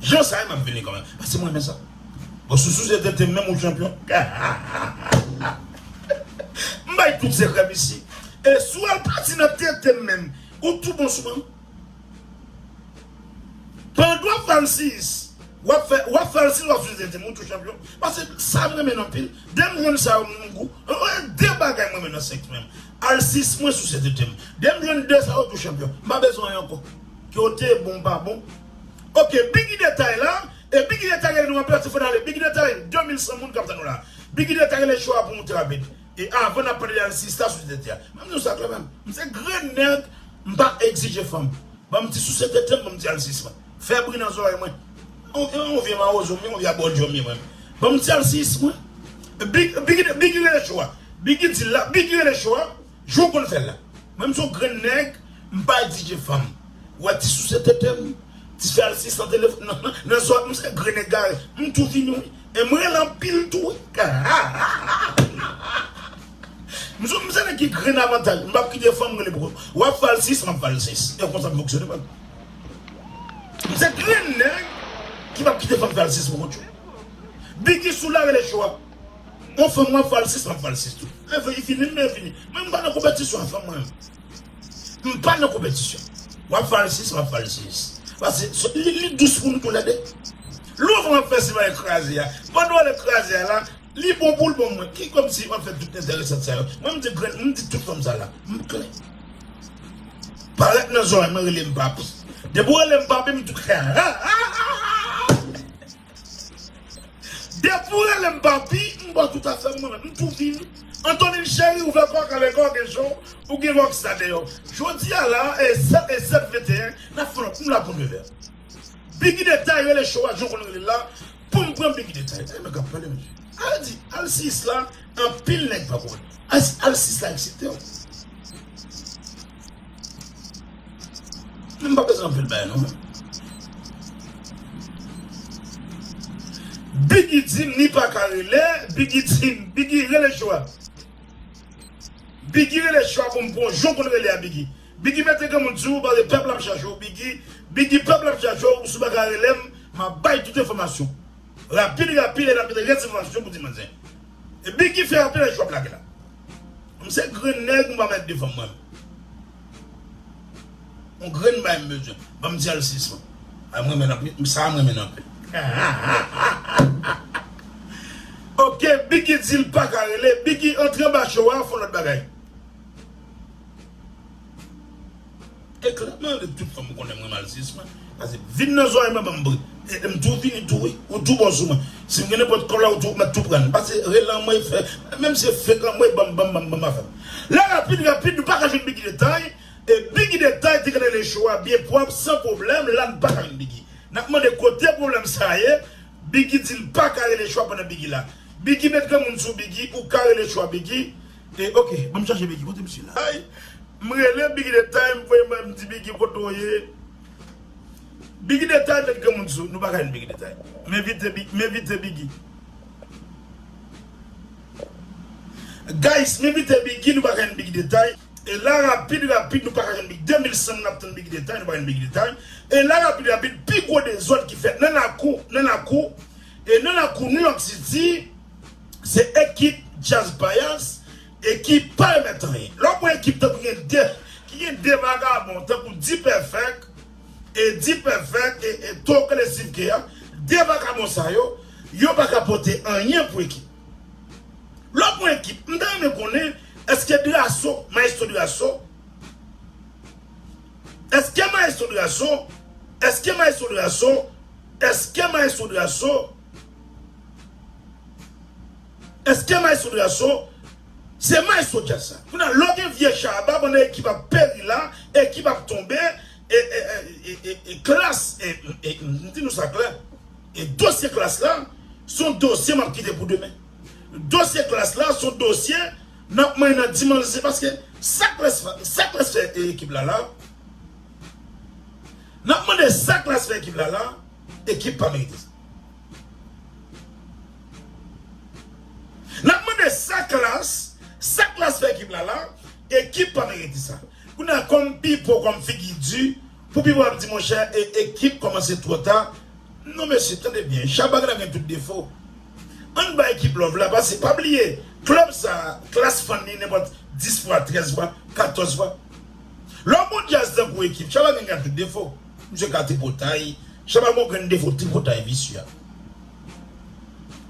Jan sa ye map vini kanmenm paske m renmen sa bon sousou se tenten m menm ou chanpyon hahahaa m bay tout sekrè m isi e si w al pati nan tenten m menm ou tou bon sou mwen pandan wap fè alsiyis wap fè alsiyis wap souse tenten m ou tou chanpyon paske sa m renmen anpil de m jwenn sa yo m gou gen de bagay m renmen nan sèks mwen alsiyis mwen souse tenten m de m jwenn de sa yo tou chanpyon m pa bezwen anyen ankò ke w te bon m pa bon. Ok biggy detay la e biggy detay rele nou anpè tifon ale biggy detay 2100 moun kap tann ou la biggy detay rele cho a pou moute avèk e avan nap pale de alsis la souse tete a banm diw sa klè banm mse grenn nèg mpa egzije fanm banm ti souse tetem banm ti alsis mwen fè bri nan zòrèy mwen yon vye mawozo mwen yon vye abòdjò mye mwen banm ti alsis mwen biggy rele cho a biggy dil la biggy rele cho a. Jan w konn fè l la. Mwen m son grenn nèg m pa egzije fanm wè ti souse tete m ti fè asistan telefòn nan zòt m se grenn egare m tou vini wi e m rele anpil tou wi hahahahahaha m se nèg ki grenn avantaj m pap kite fanm rele pou wap fè alsis map fè alsis e konsa m fonksyone man m se grenn nèg ki pap kite fanm fè alsis pou kont yo bgy sou la rele cho a. Yon fanm map valsis map valsis tou Mwen vle li fini m mwen fini Mwen m pa nan konpetisyon ak fanm mwen menm M pa nan konpetisyon Wap valsis map valsis Pase li dous pou nou tou lè 2 Louvre map fè si bagay kraze a Pandan wale kraze a la Li bon poul bon mwen Ki komsi wap fè tout enteresant sa yo Mwen m di grenn m di tout fanm sa la M klè Parèt nan zòrèy mwen rele m papi Depi w rele m papi m tou klè Hahahaha. Depi ou rele m papi, m bò tout afè mwen, m tou vin. Antonin cheri ouvè kò w kale kò w gen jan w gen lòk sa deyò. Jodi a la e 7 e 7 21 n ap fè yon m la pou nevè. Biggy detay rele show a jan w konn rele l la pou m pran Biggy detay. Gade nèg k ap pale mesye. Al di alsiyis la anpil nèg pa konnen. Alsiyis la eksite w. Mwen pa bezwen anpil bagay non. Biggy dim li paka rele Biggy dim Biggy rele Joa Biggy rele Joa pou m pran jan w konn rele a Biggy Biggy mete granmoun di w bare pèp la ap chache w Biggy Biggy pèp la ap chache w ou si w paka rele m m ap bay tout enfòmasyon rapid rapid e n ap mete rès enfòmasyon pou ti manzè Biggy fè apèl a Joa ap lage la. M se grenn nèg m pa mèt defanm mwen On grenn bay m bezwen Ban m dyèl sis mwen Ay m renmen l anpil m sa a m renmen l anpil Hahahahaha Ok Biggy di l paka rele Biggy antre anba cho a fon lòt bagay. E klèb mwen anvi tout fanm m konnen mwen malziyis mwen pase vin nan zòrèy mwen banm bri e m tou vini tou wi ou tou bon sou mwen si m gen nenpòt kòb la ou tou mèt tou pran l pase rele anmwey fè menm si se fek anmwey banm banm banm banm afè m la rapid rapid nou paka jwenn bigi detay e bigi detay te gentan le cho a byen pwòp san pwoblèm la n paka jwenn bigi n ap mande kote pwoblèm sa ye bigi di l paka rele cho a pandan bigi la bigi met granmoun sou bigi ou ka rele cho a bigi. E ok banm chache biggy kote misye la. Ayy m rele biggy de time voye m di biggy kote w ye biggy de time met granmoun sou nou paka jwenn biggy de time m envite biggy m envite biggy guys m envite biggy nou paka jwenn biggy de time e la rapid rapid nou paka jwenn biggy 2000 sèm nap tann biggy de time nou paka jwenn biggy de time e la rapid rapid pi gwo dezòd ki fèt nan lakou nan lakou e nan lakou new york city. Se ekip Jazz Payas e ki pa remèt anyen. Lè w pran ekip tankou gen 2, ki gen 2 vagabon tankou D-Perfect e D-Perfect e e Tokele Steve Kea, 2 vagabon sa yo, yo pa ka pote anyen pou ekip. Lè w pran ekip, m ta renmen konnen eske Drasso, Maestro Drasso, eske Maestro Drasso, eske Maestro Drasso, eske Maestro Drasso, Eske maestro de la son se maestro jazz sa. Kounye lè w gen vye shabba bon ekip ap peri la ekip ap tonbe e klass m di nou sa klè e dosye klass la son dosye map kite pou demen dosye klass la son dosye nap manyen nan dimanche se paske sa klass sa klass fè ekip la la nap mande sa klass fè ekip la la. Ekip pa merite sa. Nap mande sa klass, sa klass fè ekip la la, ekip pa merite sa. Kounye a kòm Pipo kòm figi di, pou Pipo ap di monchè e ekip kòmanse twò ta, non mesye tande byen, Shabba ka ta gen tout defo, ann bay ekip love la pase pa bliye klèb sa klass fann li nenpòt 10 fwa, 13 fwa, 14 fwa. Lè w bon djaz tankou ekip, Shabba gen ka tout defo. Misye ka tripotay. Shaba gon grenn defo tripotay visye.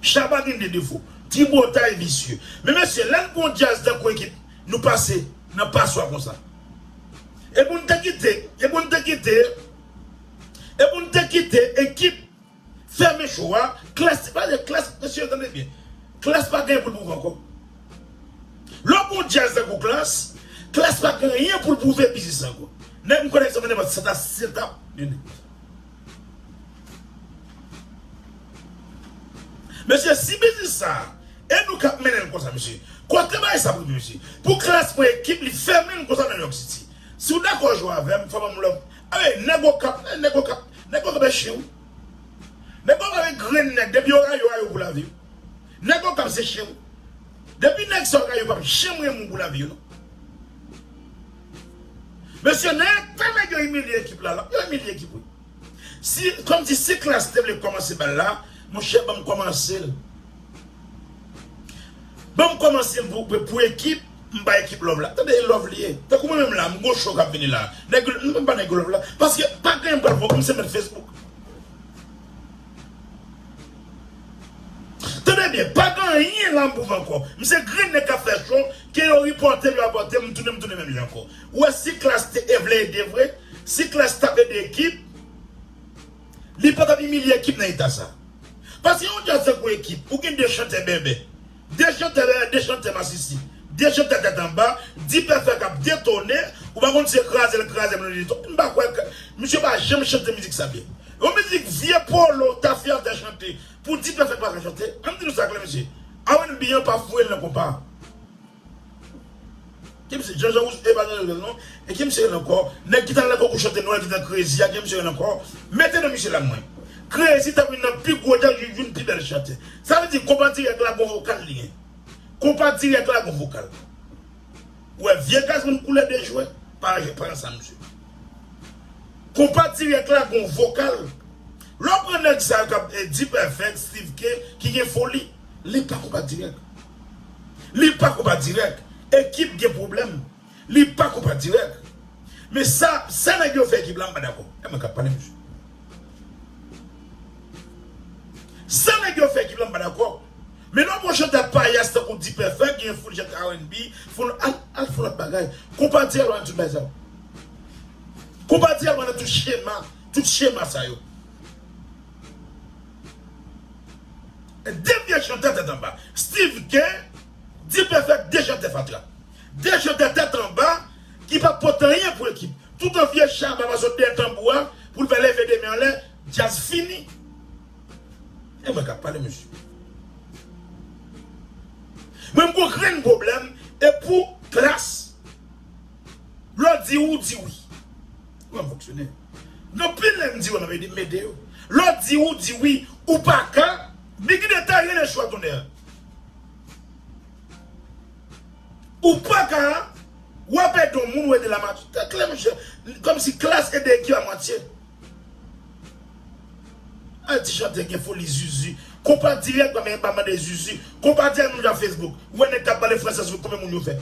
Shaba gen de defo tripotay visye. Men mesye lè n pran yon djaz tankou ekip nou pase nan paswa konsa. Epou n te kite, epou n te kite, epou n te kite ekip. Fèmen show a, Klass pale Klass mesye tande byen Klass pa gen pou l prouve ankò Lè w gon djaz tankou Klass, Klass pa gen anyen pou l prouve pi jis ankò Nèg m konnen k se pa nenpòt sa si se ta yon nèg konsa Mesye si biznis sa e nou k ap mennen l konsa mesye Kote bagay sa ap rive mesye Pou Klass pran ekip li fèmen l konsa nan New York City Si w dakò jwe avè m fò w ban m love Ey nèg okap ey nèg okap nèg okap e chen wi nèg okap e grenn nèg depi yo rayi yo rayi w pou lavi wi nèg okap se chen wi depi nèg sa yo rayi yo pap janm renmen w pou lavi yo non mesye nan eta nèg yo imilye ekip la yo imilye ekip wi si kòmsi si klass te vle kòmanse bal la monchè banm kòmanse l banm kòmanse l pou ekip M bay ekip love la tande e love li ye tankou mwen menm la m gon show kap vini la nèg m menm pa nèg love la paske pa gen m pral pran m se mèt Facebook tande byen pa gen anyen la m pou fè ankò m se grenn nèg kap fè show ke yo ripòte m yo rapòte m m tounen m tounen menm jan ankò ou wè si klass te e vle ede vre si klass tap ede ekip li patap imilye ekip nan eta sa paske yon djaz tankou ekip ou gen 2 chantè bèbè De chantè dèyè de chantè masisi De chantè tèt anba D-perfect kap detone Ou pa konn se krazel kraze blondedy to M pa kwè misye pa janm chante mizik sa byen Yon mizik vye polo tafya fè chante pou D-perfect paka chante An m di nou sa klè mesye R&B an pa foure l nan konpa a. Ki misye Jean Jean Rouge epa Jean Jean Rouge non e ki misye rele ankò nèg ki tal nan konkou chante nwèl ki te nan krezi a ki misye rele ankò mete non misye la mwen krezi ta vin nan pi gwo jazz li vin pi bèl chantè sa vle di konpa dirèk la gon vokal li gen konpa dirèk la gon vokal ou wè vye gazzman koulè de jwè pa aje pa nan sa misye konpa dirèk la gon vokal lè w pran nèg sa yo kap D-perfect Steeve Kay ki gen foli li pa konpa dirèk. Li pa konpa dirèk. Ekip gen pwoblèm. Li pa konpa dirèk. Men sa, sa nèg yo fè ekip la m pa dakò. E mwen k ap pale mesye. Sa nèg yo fè ekip la m pa dakò. Men lè w pran chantè payas tankou D-perfect gen yon foul chantè rnb, foul, al fon lòt bagay. Konpa dirèk pa nan tout bagay sa yo. Konpa dirèk pa nan tout chema, tout chema sa yo. De vye chantè tèt anba. Steeve Kay, D-Perfect 2 chantè fatra. 2 chantè tèt anba ki pap pote anyen pou ekip. Toutan vye Shabba pa sot dèyè tanbou a pou l fè leve 2 men anlè, djaz fini. E mwen k ap pale mesye. Mwen m gon grenn pwoblèm e pou klass. Lè w di ou di wi. Kouman m fonksyone? Non pil lè m di yo nan m ede yo lè w di ou di wi ou paka ni ki detay rele chwa tonnè ou paka w ap ede yon moun ou ede l an mati tèt la mesye kòmsi klas ede ekip an matye a ti chantè gen foli zuzu konpa dirèk pa mande zuzu konpa dirèk nou jwenn nan facebook ou wè nèg k ap pale fransè sou konbyen moun yo fè.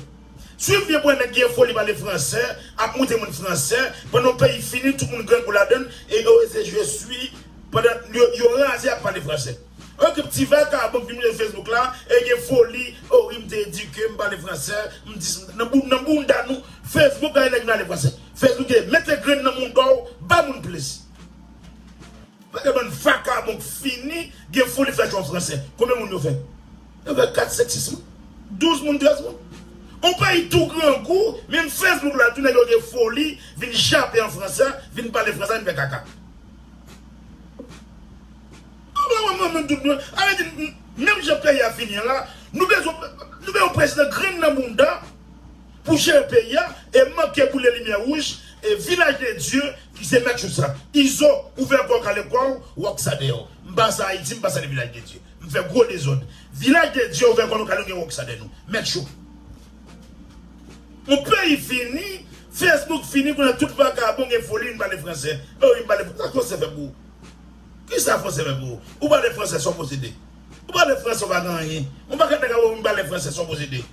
Swiv byen bwè nèg ki gen foli pale fransè ap moute moun fransè pandan yon peyi fini tout moun grangou ladann e yo rese jwe swi pandan yo raze ak pale fransè ok ti vakabon k vin mete facebook la e gen foli oh wi m te edike m pale fransè m dis nan bounda nou facebook bay nèg vin ale fransè facebook e mete grenn nan mouda w ba moun plis. Gade bann vakabon k fini gen foli fè chwa fransè. Konbyen moun yo fè? Yo fè 4, 5, 6 moun. 12 moun, 13 moun. On peyi tou grangou, menm Facebook la tou nèg yo gen foli vin jape an fransè, vin pale fransè, vin fè kaka. Ale di menm jan peyi a fini an la, nou bezwen yon prezidan grenn nan bounda. pou jere peyi a e manke boule limyè wouj e vilaj de Dye ki se mèt jou sa. Izo ouvè kòw kale kòw ou ak sa dèw. M pa sa Ayiti m pa sa de vilaj de Dye. M fè gwo dezòd. Vilaj de Dye ouvè kò nou kale nou gen wòksa dè nou. Mèt jou. Yon peyi fini, Facebook fini kounye tout vakabon gen foli vin pale fransè. Oh wi pale fransè, sa fransè fè pou ou? Kisa fransè fè pou ou? Ou pale fransè sa w posede? Ou pale fransè ou pa gen anyen. Yon pakèt nèg ap wè w vin pale fransè sa w posede?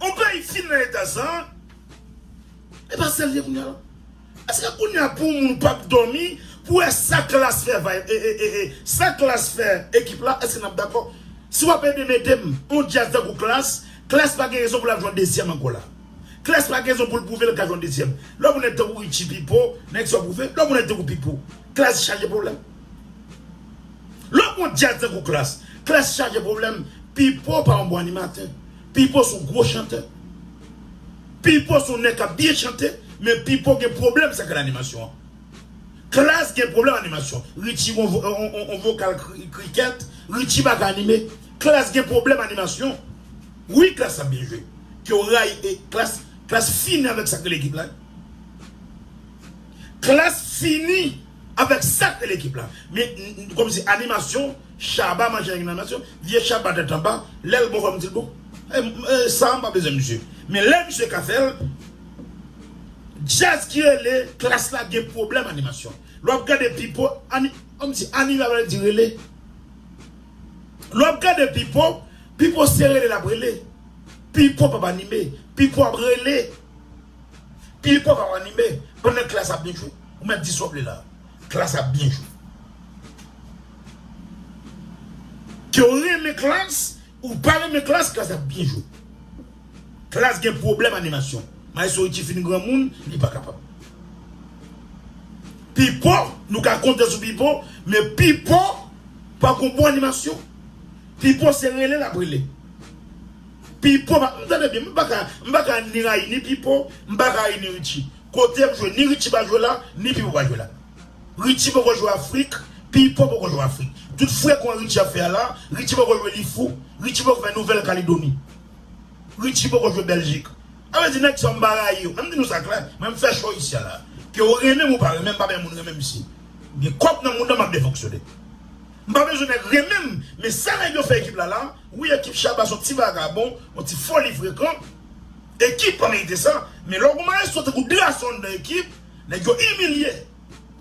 On peyi fin nan eta sa. E pa sel ye kounya non. Eske kounya pou moun pap domi pou wè sa klass fè vibe ee sa klass fè ekip la eske nap dakò si wap ede metem on djaz tankou klass klass pa gen rezon pou lap jwenn dezyèm ankò la klass pa gen rezon poul pwouve li ka jwenn dezyèm lè pou nèg tankou Richie Pipo nèg sa yo pwouve lè pou nèg tankou Pipo klass chaje pwoblèm lè pou on djaz tankou klass klass chaje pwoblèm Pipo pa on bon animatè Pipo son gwo chantè. Pipo son nèg kap byen chante men pipo gen pwoblèm sa ki nan animasyon an. Klass gen pwoblèm animasyon. Richie gon on vokal krikèt, Richie pa ka anime. Klass gen pwoblèm animasyon. Wi klass ap byen jwe. Ke w rayi e klass, klass fini avèk sak rele ekip la. Klass fini avèk sak rele ekip la. Men kòm se animasyon. Shaba manje nèg nan mès yo vye shaba tèt anba lèl bon fòm dil bon sa mpa bezwen misye men lè misye ka fèl djazz ki rele klass la gen pwoblèm animasyon lè wap gade pipo lè wap gade pipo pipo se rele lap rele pipo pap anime pipo ap rele. Pil pòv ap anime pandan klass ap byen jwe. Ou mèt di sa w vle la. Klass ap byen jwe. Ke w renmen klass ou pa renmen klass, klass ap byen jwe. Klass gen pwoblèm animasyon. Maestro Richie fin granmoun, li pa kapab. Pipo, nou ka konte sou Pipo, men Pipo pa gon bon animasyon. Pipo se rele l ap rele. Pipo pa m tande byen m pa ka m pa ka ni rayi ni pipo m pa ka rayi ni Richie kotem jwe ni Richie pa jwe la ni pipo pa jwe la Richie poko jwe afrik pipo poko jwe afrik tout frekon Richie ap fè a la Richie poko jwe li fou Richie poko fè nouvèl kalidoni Richie poko jwe bèljik a vle di nèg sa yo m pa rayi yo men m di nou sa klè mwen m fè cho isi a la ke ou renmen m ou pa renmen m pa bè moun renmen m si m gen kòb nan moun nan m ap de fonksyone. M pa bezwen nèg renmen m men sa nèg yo fè ekip la la wi ekip shabba son ti vagabon yon ti foli frekan ekip pa merite sa men lè w gon maestro tankou drazon nan ekip nèg yo imilye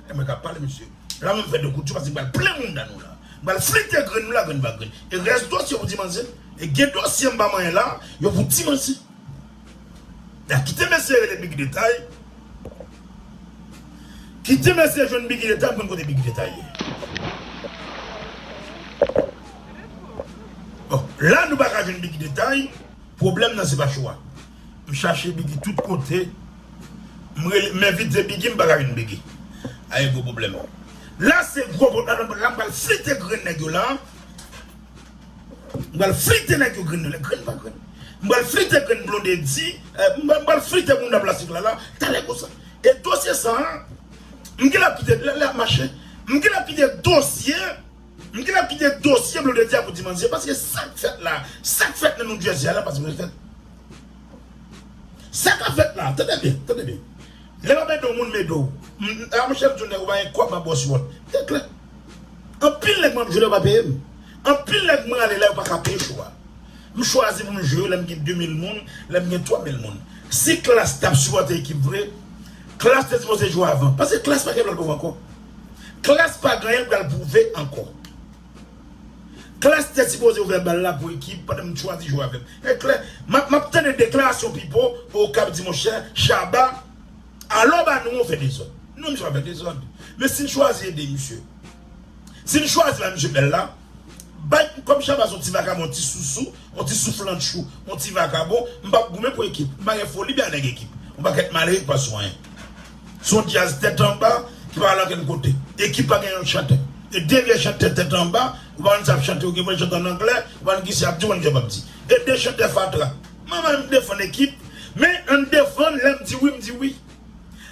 e mwen kap pale mesye la mwen fè de kout jou paske m pral plen mouda nou la m pral flite grenn nou la grenn pa grenn e rès dosye pou di manzè e gen dosye m pa manyen la yo pou di manzè. Dah kite mesye rele biggy detay kite mesye jwenn biggy detay mkonn kote biggy detay ye bon la nou paka jwenn biggy detay pwoblèm nan se pa show a mchache biggy tout kote mrele menvite biggy mpaka jwenn biggy aye gwo pwoblèm la se gwo pwoblèm la pral flite grenn nèg yo la. M pral flite nèg yo grenn yo lè grenn pa grenn M pral flite grenn Blondedy M pral flite bounda plastik lala Talè konsa E dosye sa a M genlè ap kite lè ap mache M genlè ap kite dosye M genlè ap kite dosye Blondedy a pou Di Manzè Paske sa k fèt la Sa k fèt nan New Jersey a la pa sipoze fèt Sa ka fèt la Tande byen Tande byen Lè w ap ede yon moun m ede w A monchè m di w nèg ou pa gen kòb m ap ba w sipò Li klè Anpil nèg map jwe la yo pa peyem. Anpil nèg mwen ale la yo paka peye show a. M chwazi pou m jwe yo lèm gen 2000 moun, lèm gen 3000 moun. Si klass tap sipòte ekip vre, klass te sipoze jwe avan. Paske klass pa gen lòt group ankò. Klass pa gen anyen l pral pwouve ankò. Klass te sipoze ouvè bal la pou ekip pandan m chwazi jwe avèm. Map tande deklarasyon Pipo Okap di monchè Shabba. Alò ba nou an fè dezòd. Non misye pa fè dezòd. Men si n chwazi ede misye. Si n chwazi bay misye bèl la. Bay kòm Shabba son ti vakabon yon ti sousou yon ti souflantchou yon ti vakabon m pap goumen pou ekip m pa gen foli bè a nèg ekip yon pakèt malere ki pa sou anyen se yon djaz tèt anba ki pa al ankenn kote ekip pa gen yon chantè e de vye chantè tèt anba yo pa konn sa y ap chante yo gen pou yo chante an anglè yo pa konn ki sa y ap di yo pa konn ki sa y ap di e de chantè fatra Mwen menm m defann ekip men ann defann lèm di wi m di wi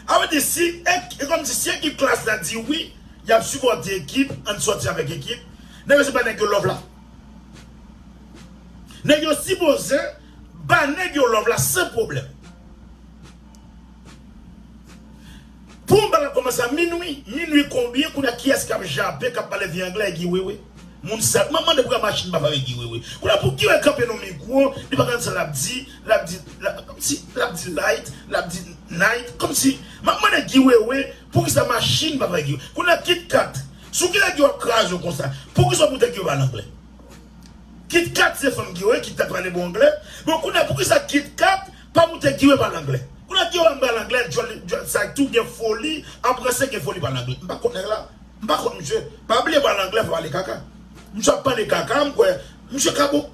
a vle di si e kòmsi si ekip klass la di wi yap sipòte ekip ann sòti avèk ekip nèg yo se pa nèg yo love la nèg yo sipoze ba nèg yo love la san pwoblèm. Bon bagay ap komanse a minwi. Minwi konbyen kounya kiyès kap jape kap pale vye anglè e Guy wewe moun sal map mande pouki machin pa pale Guy wewe kounya pou Guy wewe kanpe nou mikwo li pa konn sa lap di lap di komsi lap di light lap di night komsi map mande Guy wewe poukisa machin pa pale Guy wewe kounya kit kat sou ki nèg yo ap kraze w konsa poukisa w pou tèt yo pale anglè kit kat se fanm Guy wewe kit kat pale bon anglè bon kounya poukisa kit kat Pa moute kiwe pale anglè. Koulè kiwe an pale anglè dyòl dyòl sa tou gen foli an prese gen foli pale anglè m pa konn nèg la m pa konn misye pa bliye pale anglè pale kaka misye ap pale kaka m kwè misye ka bon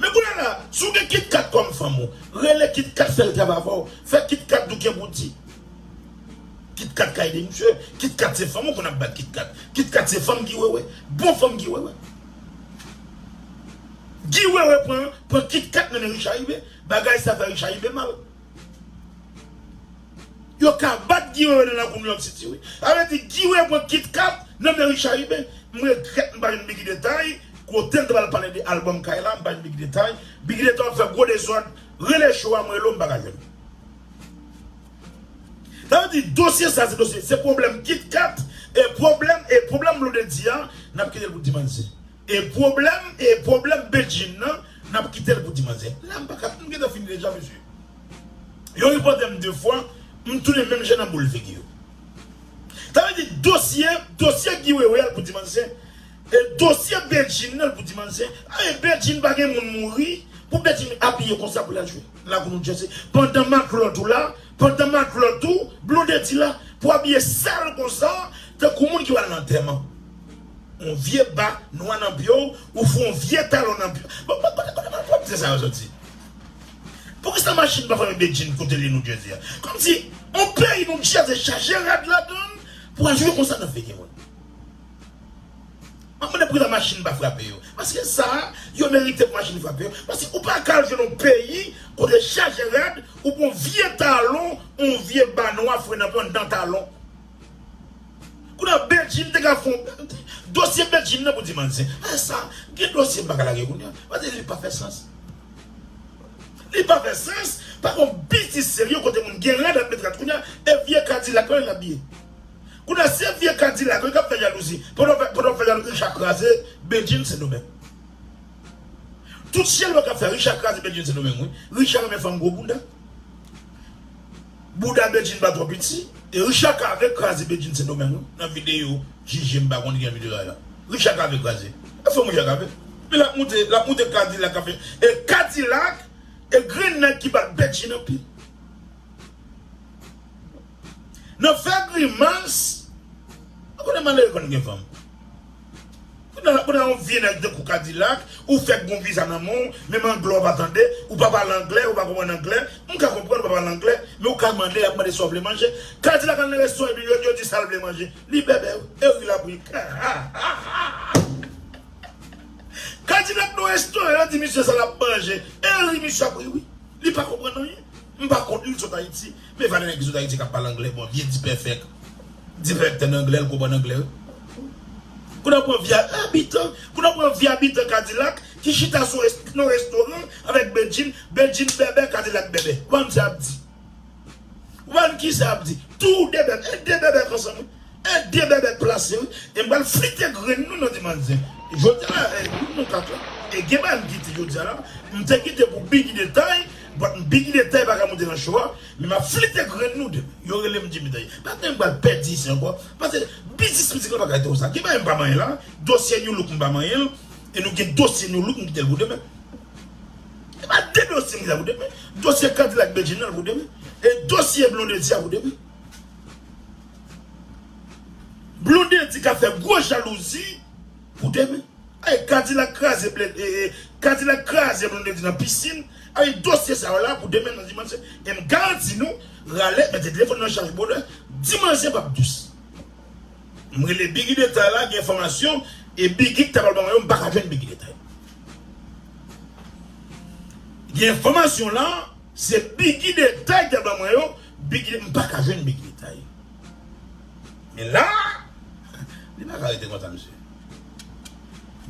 men koulè la si w gen kitkat kòm fanm ou rele kitkat fè l travay avè w fè kitkat di w gen pou di kitkat ka ede misye kitkat se fanm ou konn ap bat kitkat kitkat se fanm ki wewe bon fanm ki wewe. Guy wewe pran pran kitkat nan men Richaribe. Bagay sa fè Richard rive mal. Yo ka bat Guy Wewe nan lakou New York City wi. Sa vle di Guy Wewe pran kit kat nan men Richard rive. M regrèt m pa jwenn Biggy detay, kote l t pral pale de album kay la m pa jwenn Biggy detay. Biggy detay wap fè gwo dezòd, rele show a m rele w m pa ka jwenn ou. Sa vle di dosye sa se dosye, se pwoblèm kit kat e pwoblèm e pwoblèm Blondedy a nap kite l pou dimanche. E pwoblèm e pwoblèm Bedjine nan nap kitel pou ti manzè la mpaka m gentan fini deja mesye yo ripòtem 2 fwa m tounen menm jan nan boul figi yo sa vle di dosye dosye Guy wewe a l pou ti manzè e dosye Bedjine nan l pou ti manzè e Bedjine pa gen moun mouri pou Bedjine abiye konsa pou lal jwe lakou nou djèse pandan maklòt ou la pandan maklòt ou blondedy la pou abiye sal konsa tankou moun ki pral nan antèman. On vye ba nwa nan pye w, ou fout on vye talon nan pye w. Bon, bon, kote kote mal pwòpte sa yo soti? Poukisa machin pa fòme bedjine kote li nou jodi a? Kòmsi on peyi nou djaze chaje rad ladan l pou al jwe konsa nan figi moun? Map mande poukisa machin pa frape yo? Paske sa a, yo merite pou machin frape yo. Paske ou pa ka al jwe nan on peyi kote chaje rad, ou pran on vye talon, on vye ba nwa fre nan pye w anndan talon. Kounye a Bedjine te ka fon dosye Bedjine nan pou di manzè a sa gen dosye m pa ka lage kounye a paske li pa fè sans. Li pa fè sans pa gon biznis serye kote moun gen rad ap met rad kounye a e vye kadilak lan l ap biye. Kounye a se vye kadilak lan k ap fè jalouzi pandan w ap fè jalouzi Richard kraze Bedjine sendomeng. Tout chèlbè k ap fè Richard kraze Bedjine sendomeng wi. Richard renmen fanm gwo bounda. Bouda Bedjine pa twò piti e Richard Cavé kraze Bedjine Sendomeng wi nan videyo JG m pa konn ki jan videyo a ye la Richard Cavé kraze e fòm Richard Cavé men lap moute lap moute kadilak ap fè e kadilak e grenn nèg ki bat Bedjine anpil nan fè grimas ou konnen malere konn gen fanm. Kounye a yon vye nèg tankou kadilak ou fèk gon viza nan menw menm anglè ou pa tande ou pa pale anglè ou pa konprann anglè m ka konprann ou pa pale anglè men ou ka mande yap mande sa ou vle manje kadilak al nan resto epi yo di sal vle manje li bèbè wi e ri lap ri hahahahahaha kadilak nan resto yo di misye sa lap manje e ri misye ap ri wi li pa konprann anyen m pa kont li li sot ayiti Men valè nèg ki sot ayiti kap pale anglè bon vye dipèfèk dipèfèk tande anglè l konprann anglè wi kou nan pran vye abitan kou nan pran vye abitan kadilak ki chita sou nan restoran avèk bedjine bedjine bèbè kadilak bèbè ou pa konn sa yap di ou pa konn kisa yap di tou de bèbè e de bèbè k ansanm wi. Ede bèbèt plase wi. E m pral flite grenn nou nan dimanch zen. Jodi a la e moun nou ka tou. E gen bagay m kite jodi a la. M te kite pou bgy detay but bgy detay pa ka moute nan show a. Men m ap flite grenn nou demen. Yo rele m Jimmy Dany. Pa gen m pral pèdi isi ankò. Pase biznis mizik la pa ka rete konsa. Gen bagay m pa manyen la. Dosye New Look m pa manyen l. E nou gen dosye New Look m kite l pou demen. Se pa de dosye m kite la pou demen. Dosye K-dilak Bedjine nan pou demen. E dosye Blondedy a pou demen. Blondedy ka fè gwo jalouzi pou demen ayy kadilak kraze kadilak kraze blondedy nan pisin ayy dosye sa yo la pou demen nan di manzè em garanti nou rale mete telefòn nan chaj brodè di manzè pap dous m rele biggy detay la gen enfòmasyon e biggy ki ta pral ban mwen yo m paka jwenn biggy detay gen enfòmasyon la se biggy detay ki ta ban mwen yo. Big li m paka jwenn big li tay Men la Li paka rete konsa mesye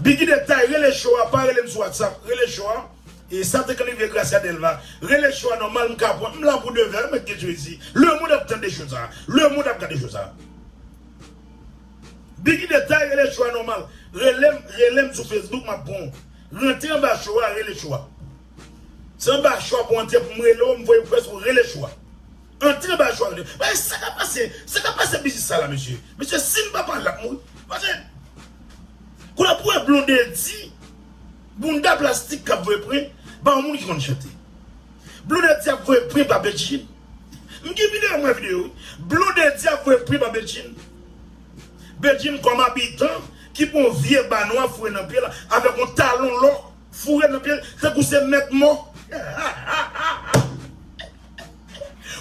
Biggy de tay rele show a pa rele m sou whatsapp rele show a e sa te k live gracia delva rele show a nòmal m ka pwan m la pou de vè mèt gen jezi le mond ap tande show sa le mond ap gade show sa Biggy de tay rele show a nòmal rele m rele m sou facebook m ap pwan w rantre anba show a rele show a. Anba chwa pou antre pou m rele w m voye pou fè sou rele chwa antre anba chwa rele w men sa kap pase sa kap pase biznis sa la mesye mesye si n pa pale lap mouri paske koulè pou wè blondedy bounda plastik kap voye pwen ba yon moun ki konn chante blondedy ap voye pwen ba bedjine m gen videyo m wè videyo wi blondedy ap voye pwen ba bedjine bedjine kòm abitan ki pran yon vye ba nwa foure nan pye l avèk yon talon lò. Foure nan pyel tankou se mèt mò.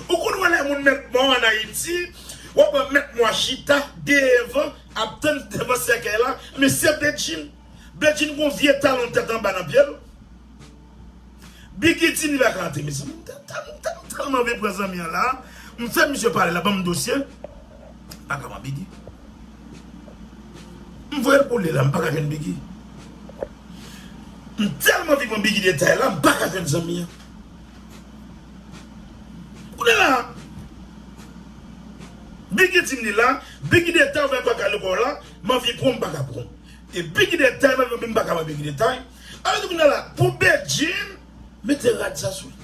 Ou konn wè lè moun mèt mò an ayiti wap wè mèt mò a chita devan ap tann devan sèkèy la men se bedjine bedjine gon vye talon tèt anba nan pyel bgy ti live a gate mezanmi m tèlman anvi pran zanmi an la m fè misye pale la banm dosye pa ka man bgy. M voyel pou li la m paka jwenn biggy m telman viv an biggy detay la m paka jwenn zanmi an kounye la biggy dim li la biggy detay ou fè pa kale kòw la m anvi pranw m paka pranw e biggy detay m anvi pranw m paka pran biggy detay alò di kounye la pou bedjine mete rad sa sou li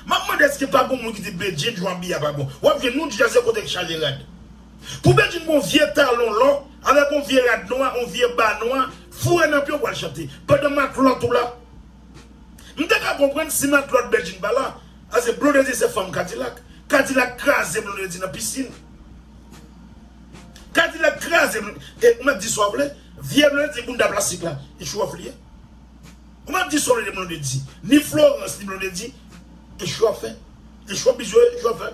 map mande eske pa gon moun ki di bedjine jan w abiye a pa bon wap jwenn nou djaze kote k chaje rad. Pou Bedjine gon vye talon lò avèk on vye rad nwa on vye ba nwa foure nan pye w pral chante pandan matlòt ou la M te ka konprann si matlòt Bedjine pa la pase Blondedy se fanm Kadilak Kadilak kraze Blondedy nan pisin Kadilak kraze e ou mèt di sa w vle vye Blondedy bounda plastik la e chou òf li ye. Kouman ap di Solène Blondedy ni Florence ni Blondedy e show ap fè? E show biz yo ye show ap fè?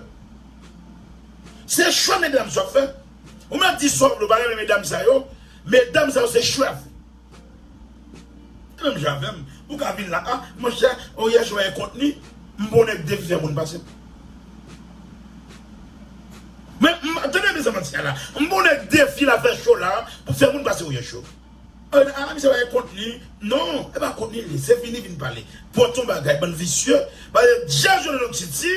Se show medam show ap fè? Ou menm ap di show yo pa renmen medam sa yo, medam sa yo se show y ap fè. Se menm jan avè m, ou ka vin la a, monchè o yè show a gen kontni, m pa w nèg depi fè moun pase m. Men m, tande mizanmanti a la, m pa w nèg defi la fè show la pou fè moun pase o yè show. An ala misye bay kontni non e pa kontni li se vini vin pale pot yon bagay bann visye pale dja jwenn lòt titi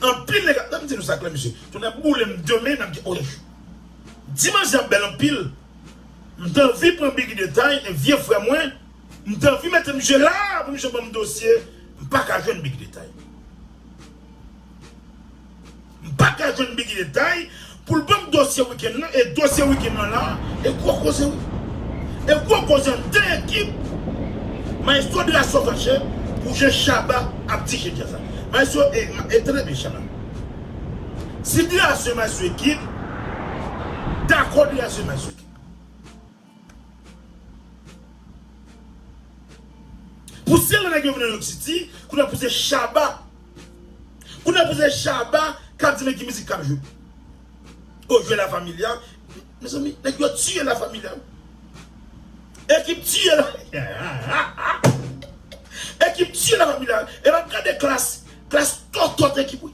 anpil nèg ap tann di nou sa klè mesye tonnè pou boulem demen nap gen oeuf di manje a bèl anpil m t anvi pran bgy detay e vye frè mwen m t anvi mete misye la pou misye banm dosye m paka jwenn bgy detay. M pa ka jwenn Biggy detay pou l ban m dosye wikenn lan e dosye wikenn lan la a. E gwo koze wi. E gwo koze an 2 ekip Maestro de la Sauvache pou jan Shabba ap di jedi a sa. Maestro e e tande byen Shabba. Si de la zema sou ekip, dakò de la zema sou ekip. Pou se lè nèg yo vin nan York City, kounye pou se Shabba. Kounye pou se Shabba kap di men ki mizik kap jwe. Oh jwe la familia. Mezanmi nèg yo tiye la familia. Ekip tiye la Ekip tiye la familia. E map gade klass, klass tòtòt ekip wi.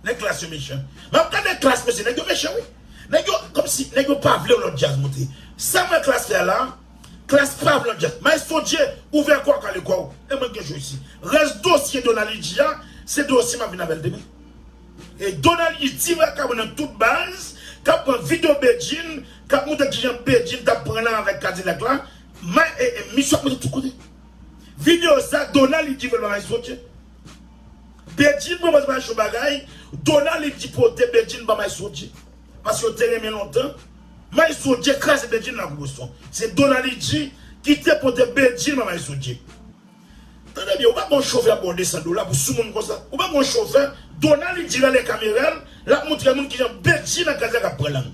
Nèg klass yo mechan. Map gade klass mesye nèg yo mechan wi. Nèg yo komsi nèg yo pa vle yon lòt djaz moute. Sam wè klass fè a la klass pa vle yon lòt djaz. Maestro Dje ouvè kòw kale kòw e mwen gen show isi. Rès dosye Donald Hidji a se dosye map vin avèl demen. E Donald Hidji ti vakabon nan tout baz kap pran video Bedjine kap montre kijan Bedjine tap pran nan avèk Kadilak la misye ap monte tout kote. Video sa Donald Hidji vòl ba Maestro Dje. Bedjine mwen pral bay yon bagay Donald li di pote Bedjine ba Maysodje paske yo te renmen lontan Maysodje kraze Bedjine lakou Boston se Donald li di ki te pote Bedjine ba Maysodje tande byen ou pa gon chofè ap baw 200 dola pou soumoun konsa ou pa gon chofè Donald li di rele kamera lap moutre moun kijan Bedjine ak Kazak ap pran lang.